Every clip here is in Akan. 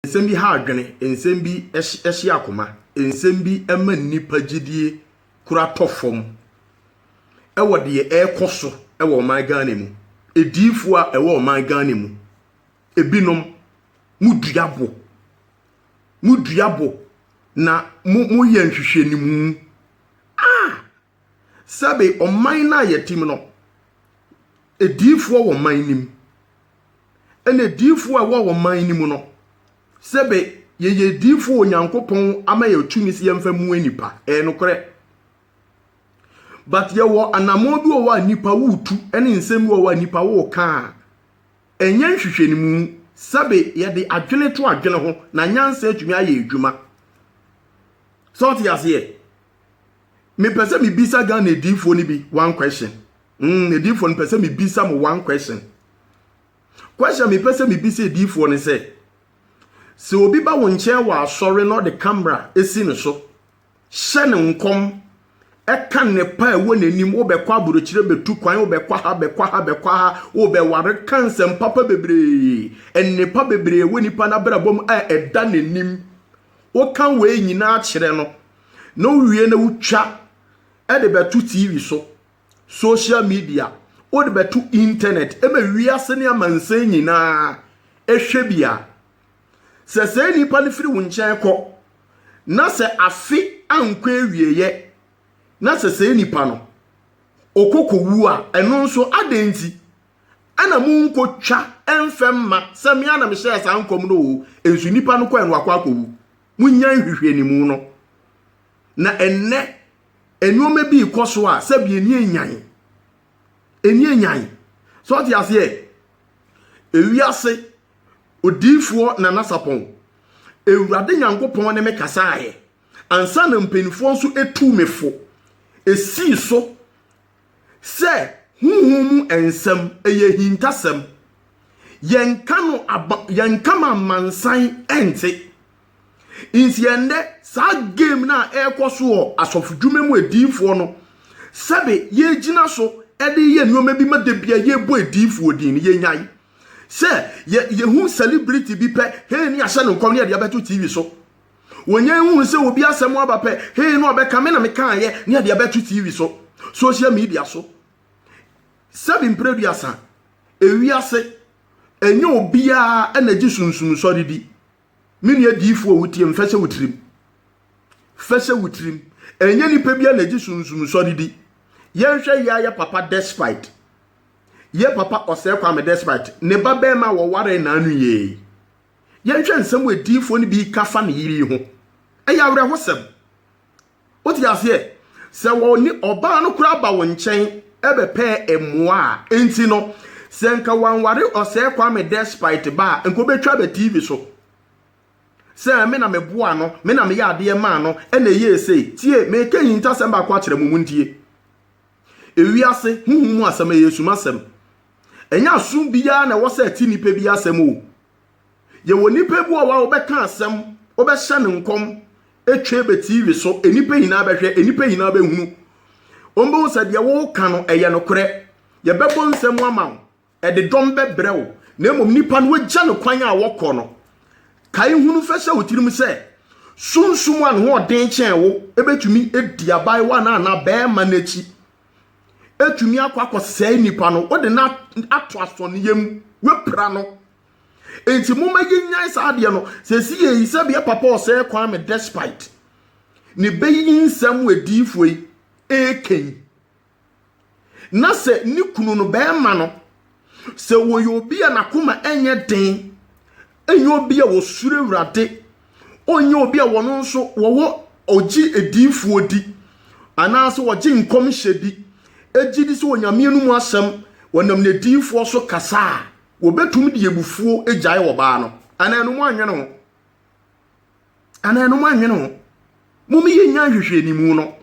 Nsɛm bi ha adwene, nsɛm bi hye akoma, nsɛm bi ma nnipa gyedie kura tɔ fam wɔ deɛ ɛrekɔ so wɔ ɔman Ghana mu. Adiyifoɔ a ɛwɔ ɔman Ghana mu, ebinom modua bo, modua bo na moyɛ nhwehwɛnimu a sɛbe ɔman no a yɛte mu no, adiyifoɔ wɔ ɔman no mu. Ɛna adiyifoɔ a ɛwɔ ɔman no mu no, sɛbe yɛyɛ adiyifoɔ wɔ Onyankopɔn ama yɛ tumi sɛ yɛmfa mu nnipa. Ɛyɛ nokorɛ. But yɛwɔ anammɔn bi wɔ hɔ a nnipa wotu ne nsɛm bi wɔ hɔ a nnipa woka a ɛnyɛ nhwehwɛnimu sɛbe yɛde adwene to adwene ho na nyansa atumi ayɛ adwuma. Sɛ ɔte aseɛ? mepɛ sɛ mebisa ghana adiifoɔ no bi one question mm, adiifoɔ no pɛ sɛ mebisa mo one question question mepɛ sɛ mebisa adiifoɔ no sɛ sɛ obi ba wo nkyɛn wɔ asɔre na ɔde kamera si ne so hyɛ ne nkɔm ɛka nnepa a ɛwɔ n'anim wobɛkɔ aburokyerɛ bɛtu kwan wobɛkɔ ha bɛkɔ ha bɛkɔ ha wobɛware ka nsɛm papa bebree nnepa bebree wɔ nipa no abrabɔ mu a ɛda n'anim woka wei nyinaa kyerɛ no na wowie na wotwa de bɛto TV so, social media, wode bɛto internet ma wiase ne amansan nyinaa hwɛ bi a, sɛ saa nipa no firi wo nkyɛn kɔ na sɛ afe ankɔ awieeɛ na sɛ saa nipa no ɔkɔ kɔwu a, ɛno nso adɛn nti? ɛna mo nko twa ɛnfɛ mma sɛ me ana me hyɛɛ saa nkɔm no o nso nipa no kɔɛ no wakɔ akɔwu mo nya nhwehwɛ ne mu no na ɛnɛ nneɛma bi kɔ so a sɛbi ani enyan ani enyan so ɔte aseɛ ewi ase odiifoɔ na nasapɔn ewurade nyankopɔn ne me kasaeɛ ansa na mpanimfoɔ nso etu me fo esii so sɛ honhom mu nsɛm, ɛyɛ ahintasɛm. Yɛnka no aba, yɛnka ma amansan ɛnte. Nti ɛndɛ, saa game no a ɛrekɔ so wɔ asɔfodwuma mu adiyifoɔ no, sɛbe yɛgyina so de yɛ nneɛma bi ma da bia yɛbɔ adiyifoɔ din no, yɛnyae. Sɛ yɛ, yɛhu celebrity bi pɛ, hei ne yɛahyɛ no nkɔm ne yɛde abɛto TV so. Wɔnya nhunu sɛ obi asɛm aba pɛ, hee na ɔbɛka, me na mekaeɛ, ne ɛde abɛto TV so, social media so. Sɛbi mprɛduasa, ewiase, ɛnyɛ obiara na gye sunsum sɔre di. Me nua diifo a wotie me, fɛhyɛ wo tirim. Fɛhyɛ wo tirim. Ɛnyɛ nipa biara na gye sunsum sɔre di. Yɛnhwɛ yɛ ayɛ papa despite. Yɛ papa ɔsɛe kwame despite. Ne ba bɛrima wɔwaree naanu yɛɛ yi. Yɛnhwɛ nsɛm a adiyifoɔ no bi reka fa ne yere yi ho. Ɛyɛ awerɛhosɛm. Wote aseɛ? Sɛ wɔne ɔbaa no koraa ba wo nkyɛn bɛpɛɛ mmoa a, enti no, sɛ nka wanware ɔsɛɛ Kwame Despite ba a, nka ɔbɛtwa aba TV so sɛ me na meboaa no, me na meyɛ adeɛ maa no, ɛna ɛyɛɛ sei. Tie, mereka nhintasɛm baako akyerɛ mo, montie. Ewiase honhom mu asɛm, ɛyɛ sum asɛm. Ɛnyɛ asom biara na ɛwɔ sɛ ɛte nnipa bi asɛm o. Yɛwɔ nnipa bi wɔ hɔ a wobɛka asɛm, wobɛhyɛ no nkɔm, ɛtwa bɛ TV so, nnipa nyinaa bɛhwɛ, nnipa nyinaa bɛhunu. Wɔbɛhu sɛ deɛ woka no, ɛyɛ nokorɛ. Yɛbɛbɔ nsam ama wo. ɛde dɔm bɛbrɛ wo na mmom nipa no wagya no kwan a wɔkɔ no kae hunu fɛ sɛ wotirim sɛ sunsum a ne ho ɔden kyɛn wo ebetumi adi abaayewa no anaa bɛrima no akyi etumi akɔ akɔsɛe nipa no wode no ato asɔneyɛ mu wapira no enti moma yɛnyan saa adeɛ no sɛ si yɛ yi sɛ bia papa ɔsɛe kwan me despite ne bɛyi nsɛm wɔ adiifoɔ yi ɛkɛn na sɛ ne kunu no bɛrima no, sɛ wɔyɛ obi a n'akoma ɛnyɛ den, ɛnyɛ obi a wɔsuro awurade, ɔnyɛ obi a wɔn nso wɔwɔ ɔgye adiifoɔ di, anaasɛ wɔgye nkɔmhyɛ di, ɛgye di sɛ onyame no mu asɛm, wɔnam n'adiifoɔ so kasa a, wɔbɛtumi de abufuo agyae ɔbaa no, anaa ɛno mo anwene ho. Anaa ɛno mo anwene ho? Mo me yɛ nya nhwehwɛnimu no.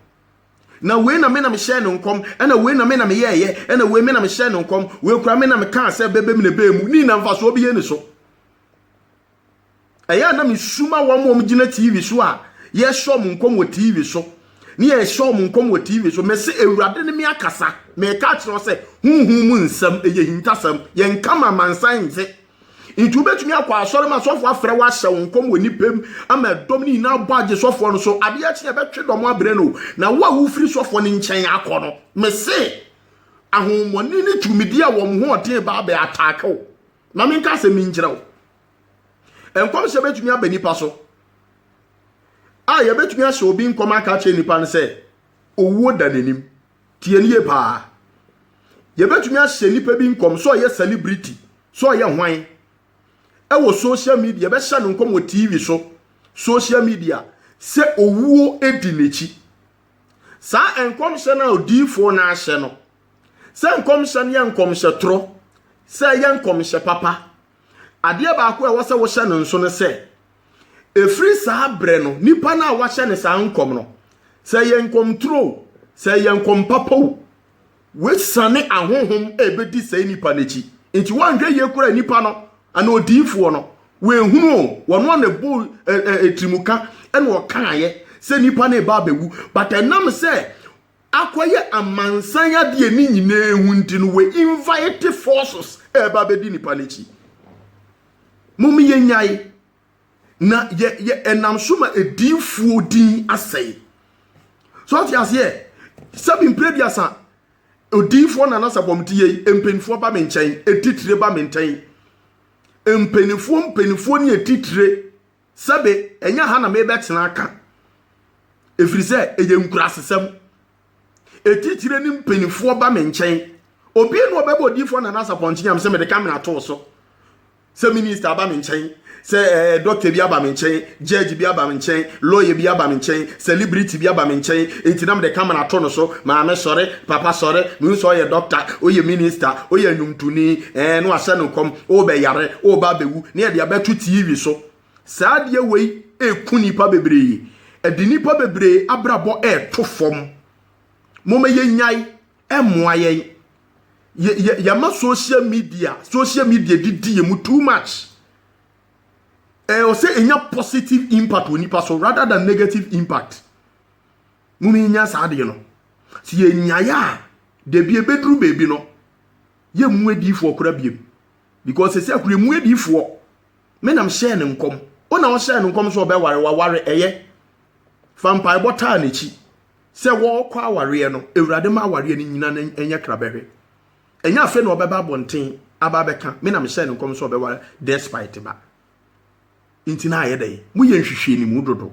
Na wei na me na me hyɛ no nkɔm, ɛna wei na me na me yɛ yɛ, ɛna wei me na me hyɛ no nkɔm, wei kura me na me kaa sɛ bɛbɛ mu na ɛbɛɛ mu, ni na nfa so ɔbɛyɛ ni so. Ɛyɛ na me suma wɔn wɔn gyina TV so a yɛ hyɛ wɔn nkɔm wɔ TV so, ne yɛ hyɛ wɔn nkɔm wɔ TV so, mɛ se awurade ne me akasa, mɛ ka kyerɛ sɛ huhu mu nsɛm ɛyɛ hintasɛm, yɛn kama mansan nse. Nti wobɛtumi akɔ asɔre ma sɔfoɔ afrɛ wo ahyɛ wo nkɔm wɔ nnipa mu ama dɔm no nyinaa bɔ agye sɔfoɔ no so adeɛ kye ɛbɛtwe dɔm abrɛ no na wo a wofiri sɔfoɔ no nkyɛn akɔ no mese ahohommɔne ne tumidi a wɔn ho ɔden ba abɛ ataake wo ma menka asɛm bi nkyerɛ wo nkɔmhyɛ bɛtumi aba nipa so a yɛbɛtumi ahyɛ obi nkɔm aka akyerɛ nipa no sɛ owuo da n'anim Tie no yie paa. Yɛbɛtumi ahyɛ nnipa bi nkɔm sɛ ɔyɛ celebrity, sɛ ɔyɛ hwan. Ɛwɔ social media, yɛbɛhyɛ no nkɔm wɔ TV so, social media, sɛ owuo di n'akyi. Saa nkɔmhyɛ no a odiyifoɔ no ahyɛ no, sɛ nkɔmhyɛ no yɛ nkɔmhyɛ torɔ, sɛ ɛyɛ nkɔmhyɛ papa, Adeɛ baako a ɛwɔ sɛ wohyɛ no nso ne sɛ, ɛfiri saa berɛ no, nipa no a wahyɛ ne saa nkɔm no, sɛ ɛyɛ nkɔmturo o, sɛ ɛyɛ nkɔm papa o, wasiane ahonhom a ɛbɛdi saa nipa no akyi. Nti woanhwɛ yie koraa nipa no, anaa odiyifoɔ no, wɔahunu o, wɔn a na ɛbɔ ɛtirimuka na wɔkaeɛ sɛ nipa no reba abɛwu, but ɛnam sɛ akɔyɛ amansan ade a ne nyinaa hu nti no wɔ invite forces ɛreba abɛdi nipa no akyi. Mom yɛ nyae na yɛ yɛ ɛnam so ma ediifoɔ din asɛe. So ɔte aseɛ sɛbi mpere bi asa odiifoɔ na nasa bɔm ti yɛ mpanyinfoɔ ba me nkyɛn etitire ba me ntɛn mpanyinfoɔ mpanyinfoɔ ne etitire. sɛbe ɛnyɛ ha na merebɛtena aka, ɛfiri sɛ ɛyɛ nkurasesɛm. Ɛtitire ne mpanimfoɔ ba me nkyɛn. Obi na ɔbɛbɔ odiyifoɔ Nana Asapɔnkyenyam sɛ mede kamera too so. Sɛ minista aba me nkyɛn, sɛ eh, dɔkta bi aba me nkyɛn, judge bi aba me nkyɛn, lawyer bi aba me nkyɛn, Celebrity bi aba me nkyɛn, enti na mede camera ato no so, Maame sɔre, Papa sɔre, mehu sɛ ɔyɛ doctor, ɔyɛ minister, ɔyɛ nnwomtoni, ɛɛ, na wahyɛ no nkɔm, wobɛyare, woreba abɛwu, na yɛde abɛto TV so. Saa adeɛ wei ɛreku nnipa bebree, ɛde nnipa bebree abrabɔ reto fam. Momma yɛnnyae, ɛmmoa yɛn. Yɛ, yɛ, yɛama social media, social media didi yɛn mu too much. ɛwɔ sɛ ɛnya positive impact wɔ nipa so rather than negative impact mu no yɛnya saa adeɛ no sɛ yɛnyaeɛ a dabi ɛbɛduru baabi no yɛmmu adiifoɔ kora biam because ɛsɛ akora ɛmu adiifoɔ me nam hyɛɛ ne nkɔm wo na ɔhyɛɛ ne nkɔm sɛ ɔbɛware waware ɛyɛ fa mpaebɔ taa n'akyi sɛ wɔrekɔ awareɛ no awurade ma awareɛ no nyina no ɛnyɛ krabɛhwɛ Ɛnyɛ afei na ɔbɛba abɔnten aba abɛka me na mehyɛɛ no nkɔm sɛ ɔbɛware Despite ba. Nti na ayɛ dɛn? Moyɛ nhwehwɛnimu dodo.